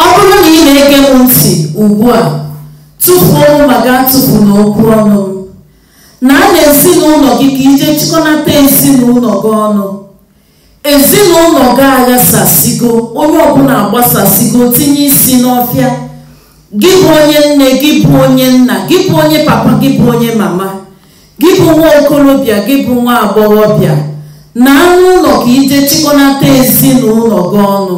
Ọ bụrụ na ị na-ege m ntị ugbu a, tupu m ma ga-atụpụ n'okwu ọnụ m. Naa n'ezinụlọ gị ka i je chịkọnata ezinụlọ gị ọnụ. Ezinụlọ gị aghasasịgo, onye ọbụla agbasasịgo tinye isi n'ọfịa. Gị bụ onye nne, gị bụ onye nna, gị bụ onye papa, gị bụ onye mama, gị bụ nwa okorobịa, gị bụ nwa agbọghọbịa. Naa n'ụlọ ka i je chịkọnata ezinụlọ gị ọnụ.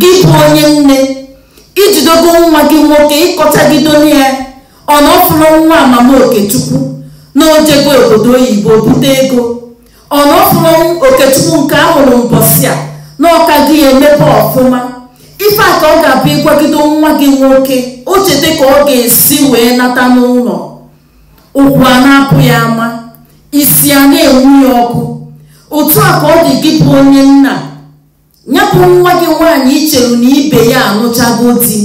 gị bụ onye nne i jidogo nwa gị nwoke ị kọchagido ya ọ na ọ fụrụ nwa mama okechukwu na o jego obodo oyibo bute ego ọ na ọ fụrụ okechukwu nke a mụrụ mbọsị a na ọ ka gị emebe ọfụma ife a ka ọ ga-abụ ị gwagido nwa gị nwoke o cheta ka ọ ga-esi wee nata n'ụlọ ụkwụ a na-apụ ya ama isi a na-enwu ya ọkụ otu a ka ọ dị gị bụ onye nna nya bụ nwa gị nwaanyị i cheru na ibe ya anụchago di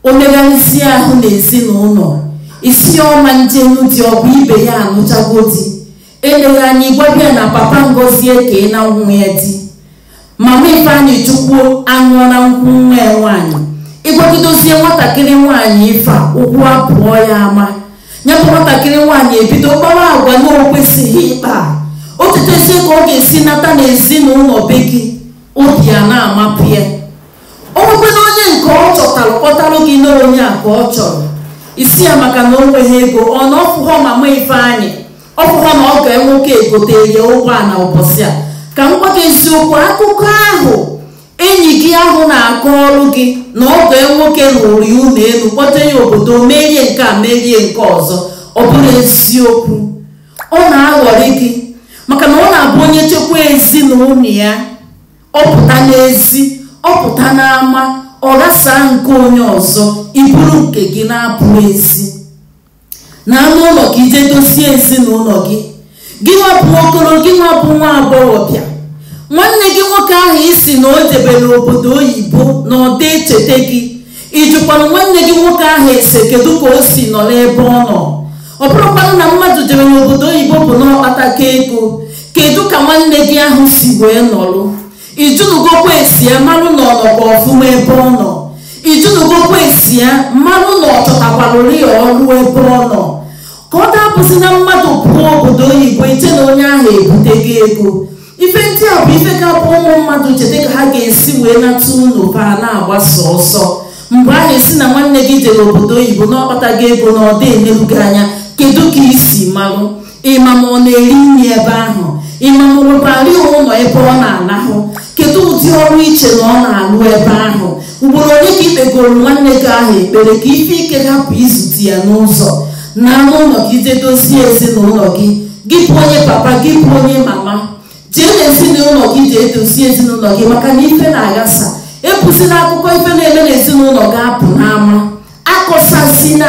o megharịzie ahụ n'ezinụlọ ị sị ọ ma njenu di ọ bụ ibe ya anụchago di eleghị anya ị gwaba ya na papa ngozi ekeena nwa ya di mama ifeanyịchukwu aṅụọna nkwụ nwa ya nwaanyị ị gwagidozie nwatakịrị nwaanyị ife a ụkwụ apụọ ya ama nya bụ nwatakịrị nwaanyị ebido kpawa agwa na o kwesịghị ịkpa o chetezie ka ọ ga-esi nata n'ezinụlọ be gị obi a na-amapụ ya o nwekwena onye nke ọ chọtara kpọtara gị na onye a ka ọ chọrọ ị sị ya maka na o nweghị ego ọ na ọ fụghọ mama ifeanyị ọ fụghọ na ọgọ ya nwoke egote ya ụgbọala ụbọchị a ka m gwa gị eziokwu akụkọ ahụ enyi gị ahụ na-akọrụ gị na ọgọ ya nwoke rụụrụ ya ụlọ elu kpọta ya obodo meere ya nke a meere ya nke ọzọ ọ bụrọ eziokwu ọ na-aghọrị gị maka na ọ na-abụ onye chekwa ezinụlọ ya ọ pụta n'ezi ọ pụta n'ama ọ ghasaa nke onye ọzọ i buru nke gị na-apụ ezi naa n'ụlọ ka i je dozie ezinụlọ gị gị nwa bụ okoro gị nwa bụ nwa agbọghọbịa nwanne gị nwoke ahụ ị sị na o jebere obodo oyibo na ọ da echeta gị ị jụkwara nwanne gị nwoke ahụ ese kedu ka o si nọ n'ebe ọ nọ ọ bụrọkwanụ na mmadụ jere n'obodo oyibo bụ na ọ kpatago ego kedu ka nwanne gị ahụ si wee nọrụ ị jụnụgokwa ese ya marụ na ọ nọkwa ọfụma ebe ọ nọ ị jụnụgokwa ese ya marụ na ọ chọtakwarụrị ya ọrụ ebe ọ nọ ka ọ da abụzi na mmadụ pụọ obodo oyibo i chee na onye ahụ ebutego ego ife ndị a bụ ife ga-abụ ụmụ mmadụ cheta ka ha ga-esi wee nata ụlọ fa a na-agbasa ọsọ mgbe ahụ ị sị na nwanne gị jere obodo oyibo na ọ kpatago ego na ọ da eneru gị anya kedu ka i si marụ ịma ma ọ na-eri nri ebe ahụ ịma ma nwekwara ụlọ ebe ọ na-alahụ kedu ụdị ọrụ iche na ọ na-alụ ebe ahụ ugboro ole ka ikpegoro nwanne gị ahụ ekpere ka ife ike hapụ izute ya n'ụzọ naa n'ụlọ gị jee dozie ezinụlọ gị gị bụ onye papa gị bụ onye mama jee n'ezinụlọ gị jee dozie ezinụlọ gị maka na ife na-aghasa ebuzina akụkọ ife na-eme n'ezinụlọ gị apụ n'ama akọsazina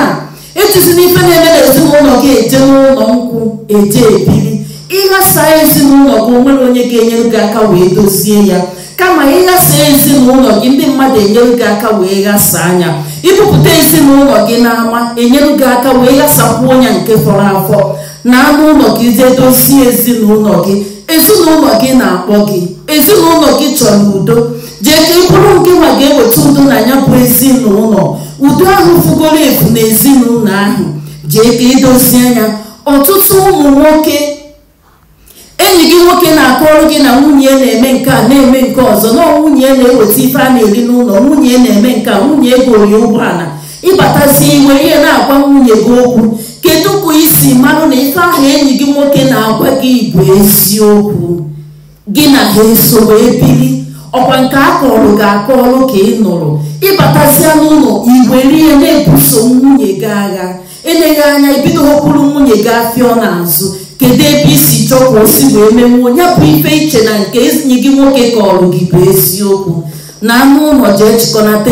ejizina ife na-eme n'ezinụlọ gị eje n'ụlọ nkwụ eje ebili ịghasa ezinụlọ gị onwere onye ga-enyere gị aka wee dozie ya kama ịghasa ezinụlọ gị ndị mmadụ enyere gị aka wee ghasaa nya ibupụta ezinụlọ gị n'ama enyere gị aka wee ghasakwuo nya nke fọrọ afọ naa n'ụlọ gị jee dozie ezinụlọ gị ezinụlọ gị na-akpọ gị ezinụlọ gị chọrọ udo jee ka ị bụrụ nke nwa ga-eweta udo na ya bụ ezinụlọ udo ahụ fugoro efu n'ezinụlọ ahụ jee ka idozie nya ọtụtụ ụmụ nwoke enyi gị nwoke na-akọrọ gị na nwunye na-eme nke a na-eme nke ọzọ na nwunye na-eweta ife a na-eri n'ụlọ nwunye na-eme nke a nwunye egoro ya ụgbọala ịbatazi iwe ihe na-agwa nwunye gị okwu kedu ka isi marụ na ife ahụ enyi gị nwoke na-agwa gị bụ eziokwu gị na ha eso wee biri ọkwa nke a kọrọ gị akọrọ ka ị nụrụ ịbatazịa n'ụlọ iwere ya na-ebuso nwunye gị agha eleghị anya ibido họpụrụ nwunye gị afịọ n'azụ kedu ebe isi chọọ ka o si wee menwuo ya bụ ife iche na nke enyi gị nwoke kọrọ gị bụ eziokwu naa n'ụlọ jee chịkọnata